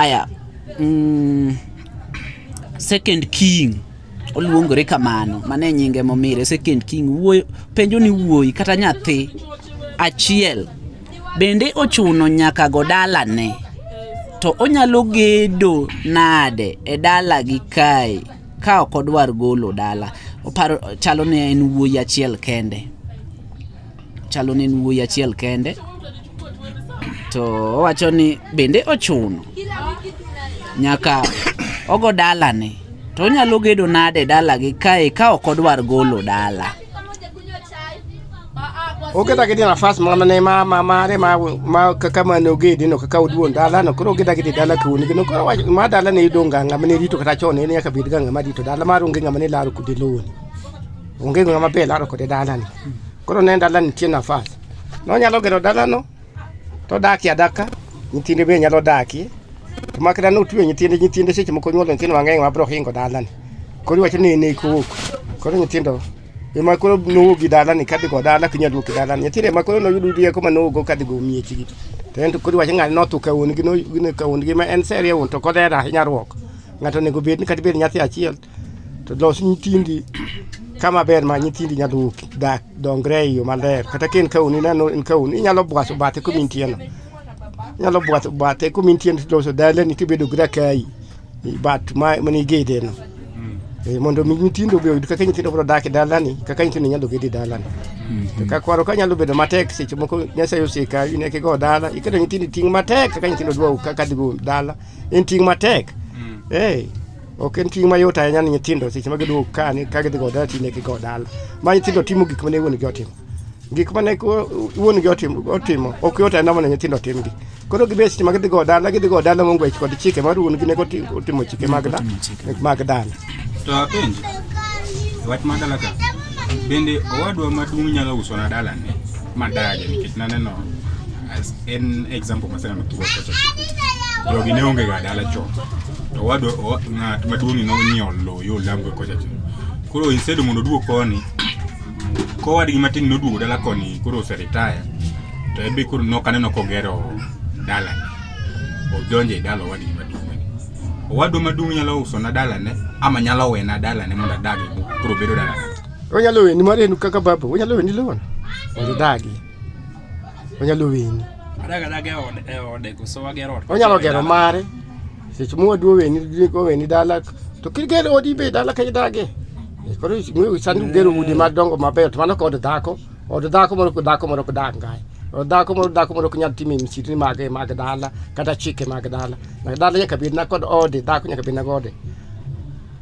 Aya, mm, second king oluongore kamano, mane nyinge momire second king. Wuoyo penjo ni wuoyi kata nyathi achiel bende ochuno nyaka go dalane to onyalo gedo nade e dala gi kae ka ok odwar golo dala oparo chalo ne en wuoyi achiel kende chalo ni en wuoyi achiel kende to owacho ni bende ochuno nyaka ogo dalane to onyalo gedo nade dalagi kae ka ok odwar golo dala oketa kiti nafas moro ne ma ma mare ma ma kaka ma no gedi no kaka uduon dala no koro oketa kiti dala kuni no koro ma dala ne idonga ngama ne rito kata chon ne nyaka bid ga ngama rito dala ma runge ngama ne laro kudi loni Onge ng'ama be laro kode dalani. Koro ne dalani nitie nafas. Nonyalo gero dalano to odakie adaka, nyithinde be nyalo dakie. To makata notwe nyithinde, nyithinde seche moko nyuolo nyithindo mang'eny ma biro hingo dalani. Koro iwacho ni en eko owuok. Koro nyithindo ema koro nowuok gi dalani kadhi go dala ok nyal wuok gi dalani. Nyithindo ema koro noyudo rieko ma nowuok go kadhi go miechgi. To en to koro iwacho ng'ani notho ka wuon gi no- ka wuon gi ma en seria wuon to kod hera ahinya ruok. Ng'ato onego bed ni kata bed nyathi achiel To los nyithindi kama ber ma nyithindi nyalo dak dongre e yo maler. Kata ka en kaun ineno en kaun inyalo bwaso bathe kuma intieno. Inyalo bwaso bathe kuma intieno tiloso dalani tibedo gi rakai i bat ma mane igedeno. Eh, mondo mi nyithindo be oyud kaka nyithindo biro dak e dalani kaka nyithindo nyalo gede dalani to ka kwaro ka nyalo bedo matek seche moko nyasaye oseka in eka igo dala iketo nyithindo ting' matek kaka nyithindo dwa kaka dhigo dala en ting' matek eh Ok en ting' mayot ahinya ni nyithindo seche ma giduogo ka ni ka gidhi go dala tine gi go dala. Ma nyithindo timo gik mane wuon gi otimo. Gik mane wuon gi otimo otimo ok yot ahinya mondo nyithindo timgi. Koro gibet seche ma gidhi go dala gidhi go dala mongo ich kod chike mar wuon gi ne otimo chike mag dala mag dala. To apenji wach ma dala ka bende owadwa maduong' nyalo uso na dala ne madage nikech naneno as en example maseneno thuwa kocha jogi ne onge ga dala chon to wado o- ng'at maduong'ni nonyiewo lowo yo lamgo kocha chon koro instead mondo oduog koni kowadgi matin noduogo dala koni koro oseritaya to ebe koro nok aneno kogero dala odonjo e dala owadgi maduong'ni owadwa maduong' nyalo usona dalane ama nyalo wena dalane mondo adagi koro bedo dalana Onyalo weni mar en kaka baba, onyalo weni loan. Mondo idagi. onyalo weni onyalo gero mare seche mowaduo weni weni dala to kigero odi be dala ka idage eh, koro sani ugero udi madongo mabeyo to mano kod dhako od dhako moro dhako moro kudak ngae od dhako moro dhako moro kunyal timo msitni mage mag dala kata chike mag dala dala nyaka bed na kod ode dhako nyaka bed na gode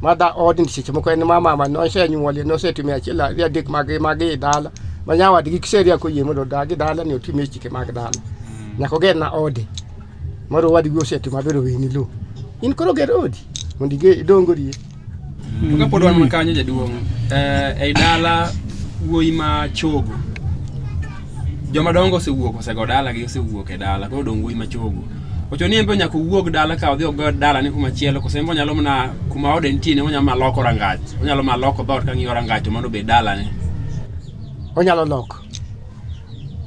ma dha ot ni seche moko en ma mama nosenyuolie nosetimo achiel ariyo adek mag mag i dala ma nyawadgi kiseria koyie mondo odag i dala ni otim e chike mag dala mm. nyaka oger na ode moro wadgi osetimo maber oweni lo in koro ger odi mondo idongorie mm. kapod wan makanyo jaduong' eh, ei dala wuoyi ma chogo Joma dongo osewuok osego dala gi osewuok e dala koro dong wuoyi machogo. Ocho ni embe nyaka owuog dala ka odhi ogo dala ni kuma chielo kose embe onyalo mana kuma ode nitie ne onyalo mana loko rangach. Onyalo mana loko dhoot ka ng'iyo rangach to mano be dala ne. Onyalo loko.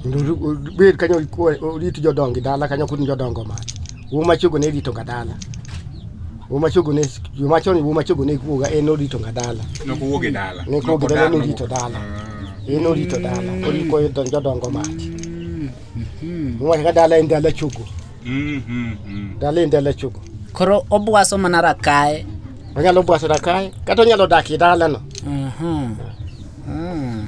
Ndu bed kanyo orit jodongi dala kanyo kun jodongo mach. Uma chogo ne rito kadala. Uma chogo ne juma choni uma chogo ne kuoga en orito kadala. No kuoge dala. Ne kuoge dala ne rito dala. Ah. En orito dala. Ori ko don jodongo mach. Mm-hmm. Uma ka dala en dala chogo. Mm-hmm. Dala en dala chogo. Koro obwaso mana rakae. Onyalo bwaso rakae kata onyalo dak e dalano. Mhm. Mm.